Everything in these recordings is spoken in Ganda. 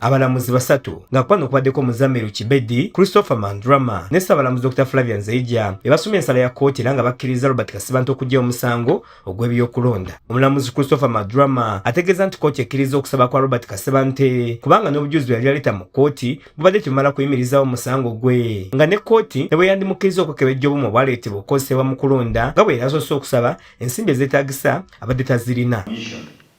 abalamuzi basatu nga kwano kubaddeko muzamiru kibedi christopher mandrama ne ssabalamuzi dr flavian zeija ebasoma ensala ya kkooti era nga bakkiriza robert kasibanta okujja omusango ogw'ebiyokulonda omulamuzi christopher madrama ategeeza nti kkooti ekkiriza okusaba kwa robert kasibante kubanga n'obujuzi bwe yali yaleeta mu kkooti bubadde tebumala kuyimirizawo omusango gwe nga ne kkooti ne bwe yandimukkiriza okwekebejja obumu obwaleetebwa okukozesebwa mu kulonda nga bwe yali asoose okusaba ensimbi ezeetaagisa abadde tazirina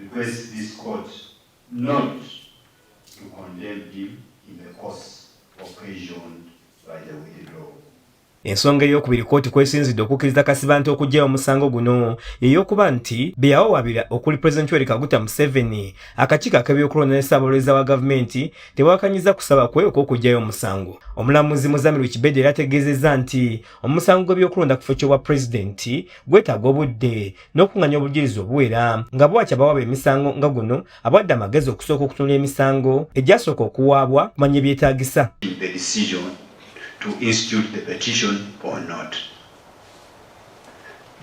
request this court not to condemn him in the course occasioned by the withdrawal. Ensonga ey'okubiri kkooti kwesinzidde okukkiriza Kasibante okugyayo omusango guno yeyokuba nti beyawawabira okuli President Yoweri Kaguta Museveni akakiiko ak'ebyokulonda ne Ssaabawolereza wa gavumenti tewakanyiza kusaba kwe okw'okugyayo omusango. Omulamuzi Muzamiru Kibede era ategeezezza nti omusango gw'ebyokulonda ku kifo ky'obwa pulezidenti gwetaaga obudde n'okunganya obujulizi obuwera nga bwaki abawaba emisango nga guno abwadde amagezi okusooka okutunula emisango egyasooka okuwaabwa kumanya ebyetaagisa to institute the petition or not.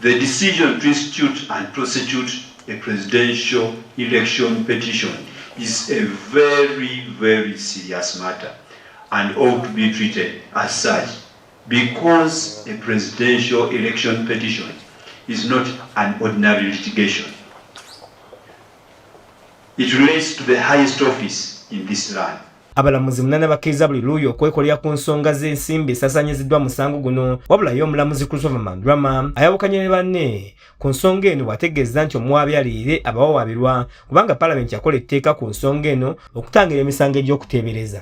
The decision to institute and prosecute a presidential election petition is a very, very serious matter and ought to be treated as such Because a presidential election petition is not an ordinary litigation. It relates to the highest office in this land. Abalamuzi munana bakkiriza buli luuyi okwekolera ku nsonga z'ensimbi esasanyiziddwa musango guno wabula ye omulamuzi Christopher Mandrama ayawukanye ne banne ku nsonga eno bw'ategeeza nti omuwaabi aliire abawawaabirwa kubanga palamenti yakola etteeka ku nsonga eno okutangira emisango egy'okuteebereza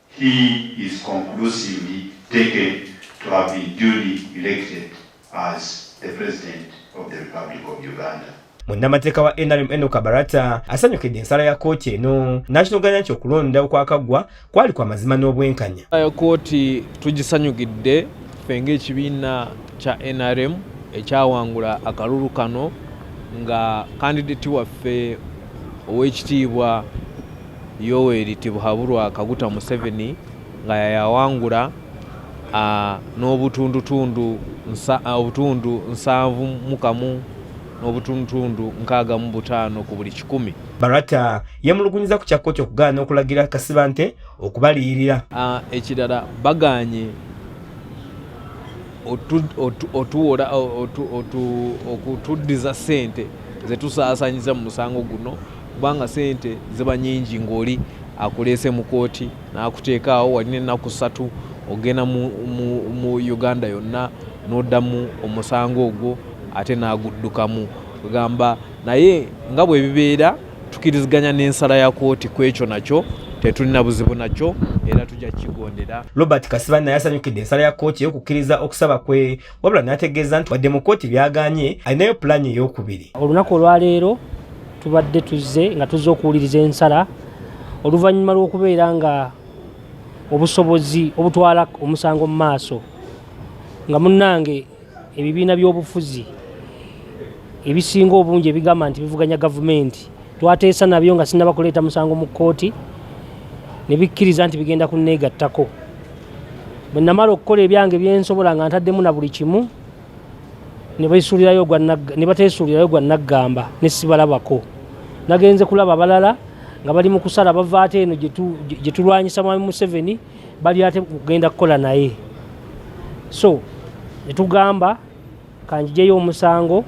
He is conclusively taken to have been duly elected as the President of the Republic of Uganda. munnamateeka wa nrm eno kabarata asanyukidde ensala ya kooti eno n'akinoganya nti okulonda okwakaggwa kwali kwa mazima n'obwenkanya ya kooti tugisanyukidde ffe ng'ekibiina kya nrm ekyawangula akalulu kano nga kandidati waffe ow'ekitiibwa Yoweri Tibuhaburwa Kaguta Museveni nga yayawangula n'obutundutundu obutundu nsanvu mu kamu n'obutundutundu nkaaga mu butaano ku buli kikumi. Barata yemulugunyiza ku kya kkooti okugaana okulagira Kasibante okubaliyirira. Ekirala bagaanye otuwola okutuddiza ssente zetusaasanyiza mu musango guno. kubanga sente ziba nyingi ng'oli akuleese mu kooti n'akuteekaawo wali n'ennaku ssatu ogenda mu, mu, mu uganda yonna n'oddamu omusango ogwo ate n'aguddukamu kugamba naye nga bwe bibeera tukiriziganya n'ensala ya kooti ku ekyo nakyo tetulina buzibu nakyo era tujja kukigondera robert kasibanna yasanyukidde ensala ya kooti ey'okukkiriza okusaba kwe wabula n'ategeeza nti wadde mu kkooti byaganye alinayo pulaani ey'okubiri olunaku olwaleero tubadde tuzze nga tuzze okuwuliriza ensala oluvannyuma lw'okubeera nga obusobozi obutwala omusango mu maaso nga munnange ebibiina by'obufuzi ebisinga obungi ebigamba nti bivuganya gavumenti twateesa nabyo nga sinaba kuleeta musango mu kkooti ne bikkiriza nti bigenda kunneegattako bwe namala okukola ebyange byensobola nga ntaddemu na buli kimu ne bateesuulirayo gwa naggamba ne sibalabako nagenze kulaba balala nga bali mu kusala bava ate eno gye tulwanyisa mwami museveni bali ate kugenda kukola naye so netugamba kanjijeyo omusango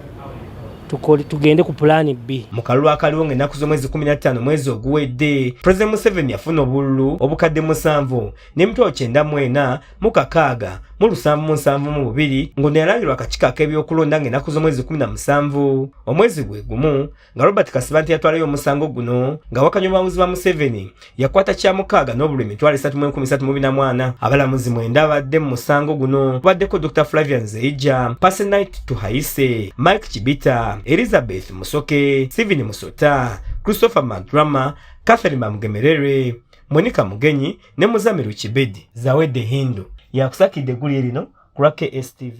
tugende ku pulaani bbi mu kalulu akaliwo ng'ennaku z'omwezi 15 mwezi oguwedde pulezidenti museveni yafuna obululu obukadde musanvu n'emitwalo kyenda mu ena mu kakaaga mu lusanvu mu nsanvu mu bubiri ng'ono yalangirwa akakiiko ak'ebyokulonda ng'ennaku z'omwezi 17 omwezi gwe gumu nga robert kasibante yatwalayo omusango guno nga wakanya obuwanguzi bwa museveni yakwata kyamukaaga n'obulwa emitwalo esatu mu enkumi satu mu bina mwana abalamuzi mwenda abadde mu musango guno kubaddeko dr flavia nzeija pasenit tuhayise mike kibita elizabeth musoke steven musota christopher madrama catherine bamugemerere monica mugenyi ne muzamiru kibedi zawedde hindu yakusakidde eggulire lino ku lwa kstv